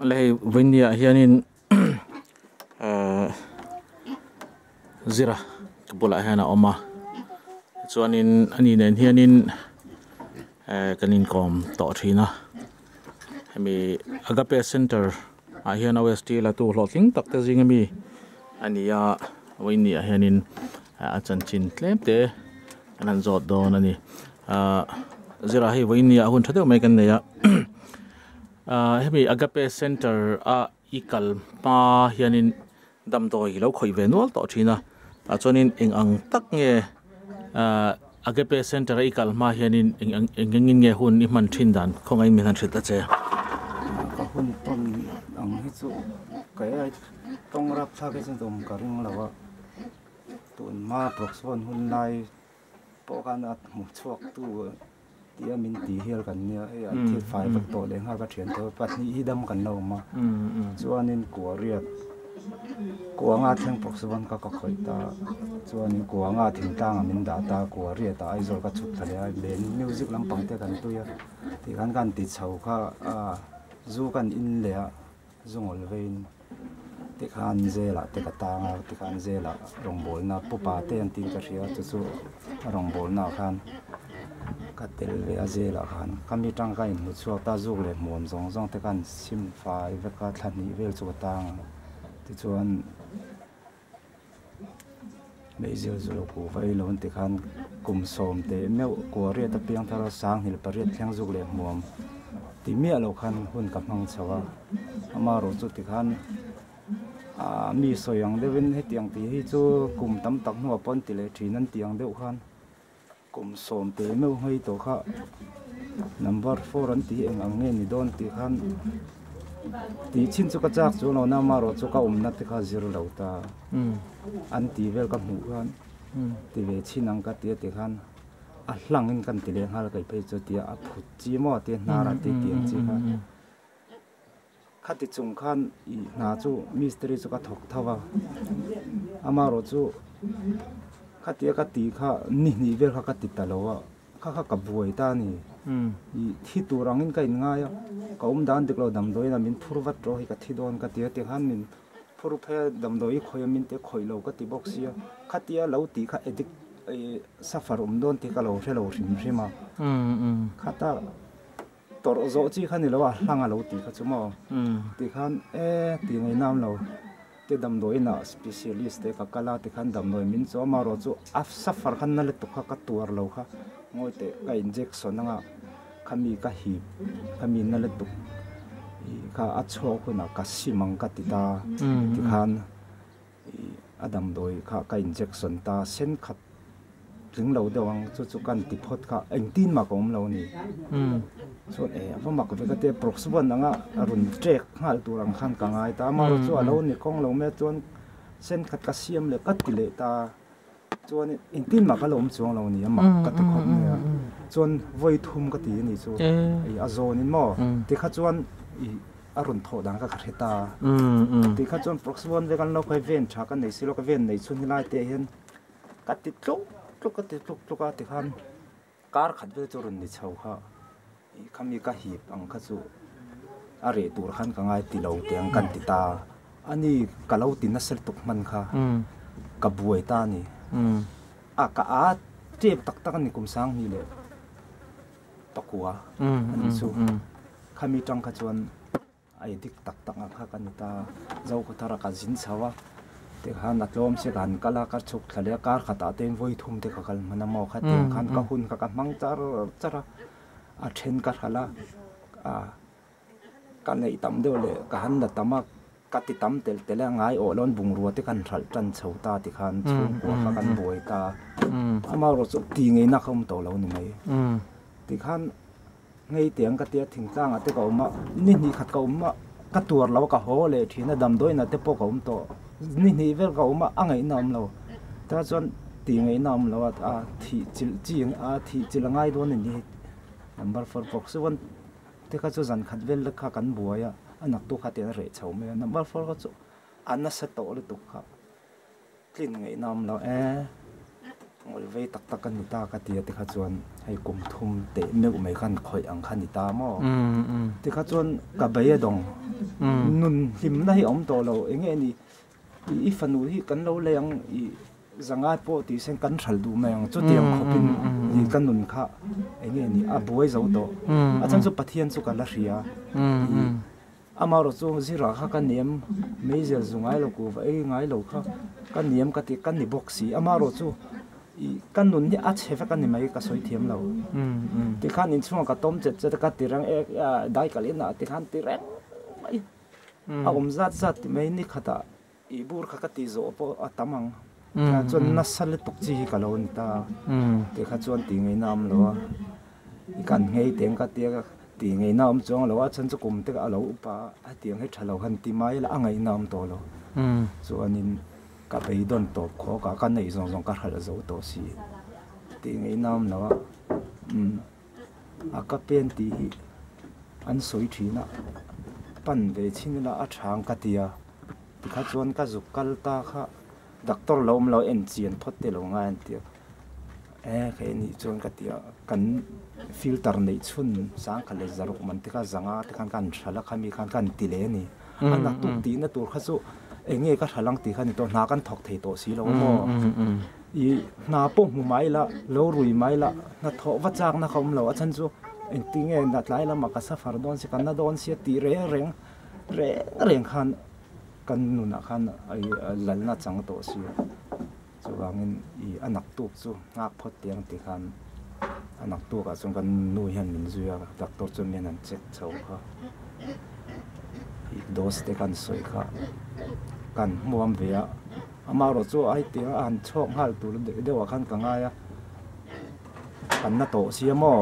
La hei vindia hianin eh zira ka bulah hian a awm a chuanin ani nen hianin eh kan inkawm tawh thin a. Hemi Agape Center ah hian OST latu hlawh tling tak te zing ami a ni a, Vawiini ah hianin a chanchin tlem te kan han zawt dawn a ni. Zirah hei Vawiini ah a hun tha deuh mai kan nei a. Hemi Agape Center ah I kal hma hianin damdawi i lo khawih ve nual tawh thin a, tah chuanin eng ang tak nge Agape Centre-a i kal hma hianin eng engin nge hun i hman thin dan khawngaiin min han hrilh ta che. Ka hun ton ang hi chu kei ai tawng rapthlak hi chu dawm ka ring lo a, tun hma proxy hun hun lai. Pawh khan a hmuh chhuak tu tia min ti hial kan nia hei an thil fai vawt tawh leh nghal ka thian tawh a pahnih hi dam kan lo awm a chuanin kuariat kuanga thleng pawh chu wan ka ka khawih ta chuanin kuanga thingtang ah min dah ta kuariat ah aizawl ka chhuk thla leh a len music lampang te kan tui a tih khan ka han ti chho kha a zu ka han in leh a. Zungawl veiin tikhan zela te ka tang a, tikhan zela rawngbawlna pupa te an tih ka hria, chu chu a rawngbawlna khan ka tel ve a, zela khan ka mi tangka in hmu chhuak ta, zuk leh hmuam zawng zawng te khan sim fai vek a, thla hnih vel chu ka tang a, tichuan. Meizel zulu ku vai lo an ti khan kum sawm teh meuh kuariat apiang thar a sanghnih pariat thleng zuk leh hmuam ti miah lo khan hun ka hmang chho a ama rawh chu tikhan ah mi sawi ang deuhin hetiang tih hi chu kum tam tak hnuah pawh an ti leh thin an ti ang deuh khan. Kum sawm pe meuh ngei tawh kha number four an ti eng ang nge ni dawn tih khan tih chin chu ka chak chuang lo na amarawh chu ka awmna te kha zir lo ta an tih vel ka hmuh khan ti ve chin ang ka tia ti khan a hlangin kan ti leh nghal kai phei chu tia a phut chi maw tia hnar a ti ti ang chi khan. Khati chung khan i hna chu misteri chu ka thawk tho a, amarawh chu khatia ka ti kha ni hnih vel kha ka ti ta lo a, kha kha ka buai ta a ni. I thi tur angin ka inngai a, ka awm dan dik lo damdawiin a min phur vat rawh hi ka thi dawn ka ti a, tikhan min phur phei a, damdawi i khawih a min tih khawih lo ka ti bawk sia, khatia lo tih kha addict suffer awm dawn tih ka lo hre lo hrim hrim a, khata Tawrh zawh chi kha ni lo a, hlang a lo ti kha chu maw? Ti khan e, ti ngei nam lo. Ke damdawiinah specialist te ka kal a, ti khan damdawi min chu amarawh chu a suffer khan na la tu kha ka tuar lo kha ngawi teh ka injection anga khami ka hip khami na la tu kha a chhuak hunah ka sim ang ka ti ta ti khan. A damdawi kha ka injection ta, sen khat tling lo deuh ang, chu chu kan ti phawt kha a engtin mak a awm lo a ni. Chuan e, a va mak vek ati a, Prox wan ang a, a rawn check nghal tur ang khan ka ngai ta a, amaherawhchu a lo ni kawng lo mai a, chuan sen khat ka siam leh ka ti leh ta a. Chuan engtin mah ka lawm chuang lo nia mak ka ti khawp nia chuan vawi thum ka ti a nih chu a zawn in maw ti kha chuan a rawn thawh dan ka ka hre ta ti kha chuan proxy one vek an lo phai ven tha ka nei si lo ka ven nei chhun hi lai te ah hian ka ti tluk tluk ka ti tluk tluk a ti khan Kar khat vel chu rawn ni chho kha i khami ka hip ang kha chu a reh tur khan ka ngai ti lo tih ang kan ti ta a ni ka lo ti na ser tuk hman kha ka buai ta a ni a ka a tep tak tak a ni kum sang hnih leh pakua a ni chu khami tang kha chuan I dik tak tak ang kha ka ni ta, Zoka Thara ka zin chho a, tikhan a tlawm se ka han kal a, ka chhuk thla leh a, kar khatah te vawi thum te ka kal hman a maw kha tiang khan ka hun kha ka hmang char char a, a then ka hral a, ka neih tam deuh leh ka han la tam a, ka ti tam tel tel a, ngai awh lawn bungrua te kan hralh tan chho ta tikhan chhungkua kha kan buai ta, amaherawhchu ti ngeinak kha awm tawh lo ni mai, tikhan. Ngei te ang ka tia thing tlang ah te ka awm a, ni hnih khat ka awm a, ka tuar lo a, ka haw leh thin a, damdawiin ah te pawh ka awm tawh, ni hnih vel ka awm a, a ngaihna awm lo, ta chuan tih ngaihna awm lo a, a thih chilh chi a thih chilh a ngai dawn a ni, number four pawh ka chuan te kha chu zan khat vel te kha kan buai a, a naktu kha te an reh chho mai a, number four kha chu a nasa tawh lutuk kha. Tlin ngeihna awm lo e, ngawih vei tak tak ka ni ta ka ti a tikha chuan hei kum thum teh meuh mai khan khawih ang kha ni ta maw tikha chuan ka bei a dawng nun hlimna hi a awm tawh lo eng nge ni i i fanu hi kan lo lei ang i zanga pawh tih sen kan hralh duh mai ang chuti ang khawpin i ka nun kha eng nge ni a buai zo tawh a chhan chu pathian chu ka la hria i Amarawh chu zirah kha ka niam meizel zu ngai lo kuh vaei ngai lo kha ka niam ka tih ka ni bawk si. Amarawh chu i ka nun hi a chhe vek a ni mai ka sawi thiam lo. Tikhan inchhungah ka tawm chet chet a ka ti reng e daikal inah tikhan ti reng mai. A awm zat zat ti mai nikhatah I bur kha ka ti zawh pawh a tam ang. Tiah chuan nasa lutuk chi hi ka lo ni ta tih kha chuan ti ngei na awm lo a. I kan nghei teng ka ti a, ti ngei na awm chuang a lo a, chhan chu kum te a lo up a, hetiang hi tha lo han ti mai ila a ngaih na awm tawh lo. Chuanin ka beidawn tawp khawk a, ka neih zawng zawng ka hralh zo tawh si tih ngei na awm lo a. A ka pen tih hi an sawi thin a, pan ve chhin ila a chhang ka ti a, tikha chuan ka zuk kal ta kha doctor lo awm lo en chian phawt te lo ngai an ti a, e kha e nih chuan ka ti a, kan filter neih chhun sangkhat leh zaruk man te kha zanga te khan kan hra la khami khan kan ti leh a ni, a naktuk tihna tur kha chu eng nge ka hra lang tih kha ni tawh hna kan thawk thei tawh si lo maw. I hna pawh hmu mai la, lo rui mai la, hna thawh va chak na kha awm lo. A then chu engtin nge na tlai lamah ka suffer dawn si, ka na dawn si a tih reng reng, reng reng khan kan nunah khan a lal na chang tawh si. Chuvangin i a naktuk chu nghak phawt tih ang tikhan a naktukah chuan kan nu hian min zui a, doctor chuan mian an check chho kha i dose te kan sawi kha kan hmuam ve a. Amah erawh chu ai tia a han chhawk nghal tur deuh deuh ah khan ka ngai a, kan na tawh sia maw?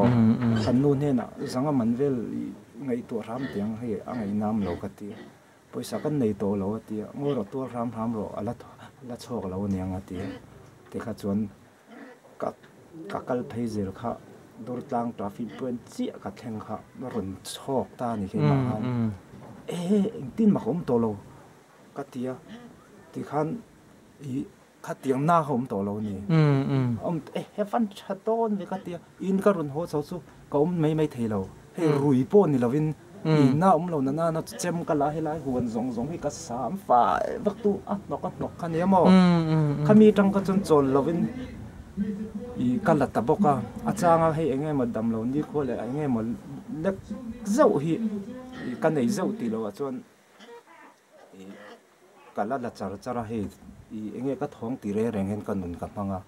Kan nu hnenah zanga man vel i ngaihtuah hram tiang hei a ngaihnam lo ka ti a, pawisa kan nei tawh lo a ti a, ngawi rawh tuar hram hram rawh a la chhawk lo aniang a ti a, tikha chuan ka kal phei zel kha Durtlang traffic point chiah ka thleng kha rawn chhawk ta a ni keimah khan e engtin mak awm tawh lo. Ka ti a, tikhan i khatiang na ka awm tawh lo ni? He van tha dawn ve ka ti a, in ka rawn haw chho chu ka awm mai mai thei lo, hei rui pawh ni lo in inna awm lo nana na chu chem ka la, helai huan zawng zawng hi ka sam fai vak tu a hnawk a hnawk kha nia maw? Khami tang kha chuan chawl lo in i ka la ta bawk a, a changa hei eng nge maw dam lo nikhua leh eng nge maw lek zeuh hi ka nei zeuh tih lo ah chuan, Ka la la char char a hei i eng nge ka thawng ti reng reng hian ka nun ka hmang a,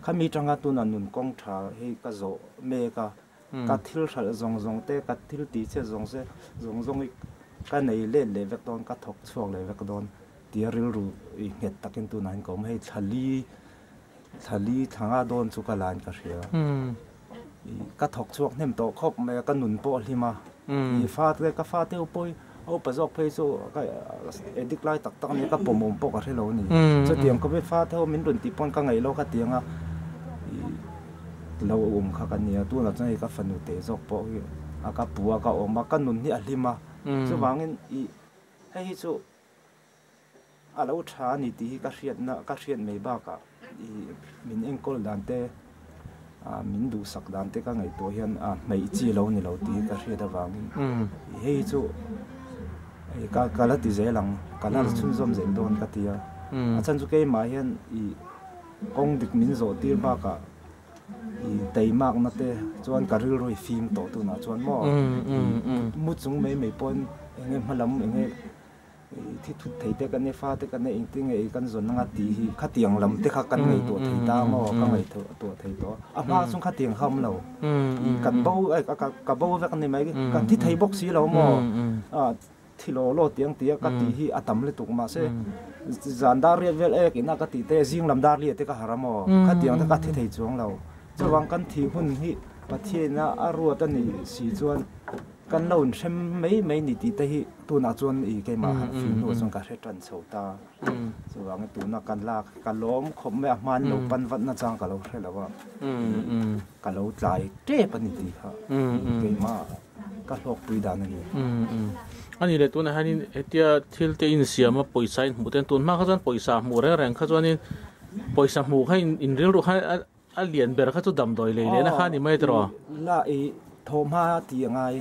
khami tanga tunah nun kawng tha hi ka zawh mek a, ka thil hralh zawng zawng te, ka thil ti chhiat zawng se zawng zawng hi ka nei let leh vek dawn, ka thawk chhuak leh vek dawn tia rilru nghet takin tunah hian ka awm a, hei thla li. Thali thanga dawn chu ka lain ka hria. I ka thawk chhuak hnem tawh khawp mai a, ka nun pawh a hlim a. I fate, ka fate upoi, a upa zawk phei chu ka addict lai tak tak a ni, ka pawmawm pawh ka hre lo a ni. Chutiang ka mi fate ho min rawn tih pawn ka ngaih lo ka tiang a, i lo awm kha ka nia. Tunah chuan hei ka fanu teh zawk pawh hi a ka pu a, ka awm a, ka nun hi a hlim a. Chuvangin i hei hi chu A lo tha a ni tih hi ka hriatna, ka hriat mai bakah i min enkawl dan te, min duhsak dan te ka ngaih tawh hian a hmeih chi lo ni lo tih hi ka hriat avangin i hei chu i ka ka la ti zel ang, ka la chhunzawm zel dawn ka ti a. A chhan chu keimah hian i kawng dik min zawh tir bakah i teimakna te chuan ka rilru i fim tawh tunah chuan maw i mu chung mai mai pawhin eng nge hma lam eng nge. Thi thut thei te kan i fa te kan in ti ngei kan zawn anga ti hi khatiang lam te kha kan ngei tawh thei ta maw ka ngaih tawh thei tawh a a hma chung khatiang kha awm lo i kan bo ka bo vek ni mai kan thi thei bawk si lo maw a thi law law tiang ti a ka ti hi a tam lutuk mah se zan dar riat vel ek in a ka ti te zing lam dar riat te ka harh a maw khatiang te ka thi thei chuang lo chuvang kan thih hun hi Pathian a a ruat a nih si chuan Kan lo inhrem mai mai ni tih te hi tunah chuan i keimah khan fim hnua chuan ka hre tan chho ta. Chuvangin tuna kan lak ka lawm khawp mai a hma an lo pan vat nachang ka lo hre lo a. Ka lo tlai tep a ni tih kha keimah ka hlawkpui dan a ni. A ni le tunah hianin hetia thil te insiam a pawisa inhmuh te an tun hma kha chuan pawisa hmuh reng reng kha chuanin pawisa hmuh kha inrilru kha A lian ber kha chu damdawi lei lehna kha a ni mai ta rawh. La i thaw hma ti a ngai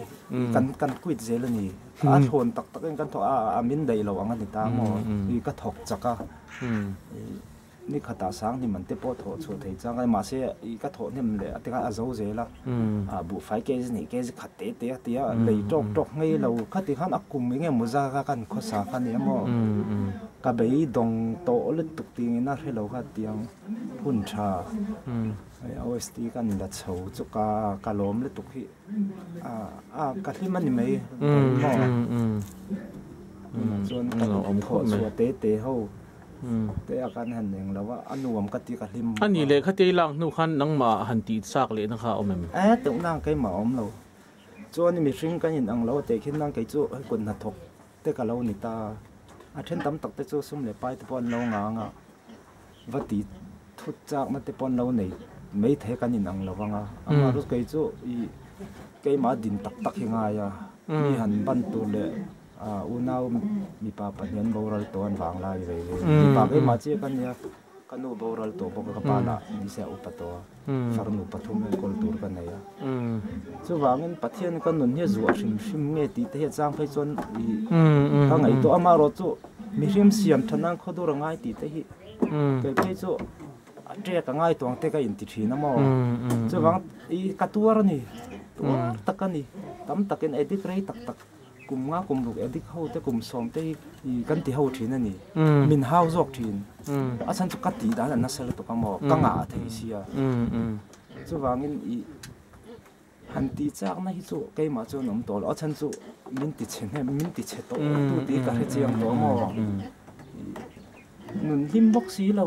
kan kan quit zel a ni a thawn tak tak in kan thaw a a min daih lo ang a ni ta maw i ka thawk chak a i ni khat ah sang hnim an te pawh thaw chhuah thei chang ai mahse i ka thaw hnem leh a tikah a zo zel a a buhfai ke zi nih ke zi khat te te a ti a lei tawk tawk ngei lo kha ti khan a kum eng emaw zar a kan khawsa kha ni a maw ka bei dawng tawh lutuk ti in a hre lo kha ti ang. Hun tha hi a OST ka an la chho chu ka ka lawm lutuk hi a ka hlim a ni mai tunah chuan ka awm khawh chu a te te ho te a kan han eng lo a a nuam ka tih ka hlim bawk a. Ani lehkha tei lak hnu khan nangmah han tih chak leh na kha a awm em? E teuhnang keimah a awm lo chuan mihring kan in ang lo teh khin nang kei chu kut hnathawk Te ka lo ni ta a, a then tam tak te chu sum leh pai te pawh an lo ngang a, va ti thut chak na te pawh an lo nei mai thei kan in ang lo vang a, amaherawhchu kei chu i keimah din tak tak hi ngai a, mi han ban tur leh unau mipa pahnih an boral tawh an vang lai ve ve, mipa keimah chiah ka nia. Ka nu boral tawh bawk a, ka pa lah min ziah u pa tawh a, farnu pathum in kawl tur ka nei a. Chuvangin Pathian ka nun hi zu a hrim hrim nge tih te hi a chang phei chuan ka ngaih tawh a, amaherawh chu mihring siam tha nan khawdur a ngai tih te hi kei phei chu a ṭek a ngai tuangte ka inti ṭhin a maw. Chuvang i ka tuar a ni, tuar tak a ni, tam takin edit rei tak tak. Kum nga kum ruk e dik ho te kum sawm te hi kan ti ho thin a ni. Min hau zawk thin. A chhan chu ka tih dan an nasa lutuk a maw? Ka ngah a thei sia. Chuvangin i han ti chak na hi chu keimah chuan awm tawh lo. A chhan chu min ti chhe hnem, min ti chhe tawh tu tih hi ka hre chiang tawh a maw? I nun hlim bawk si lo.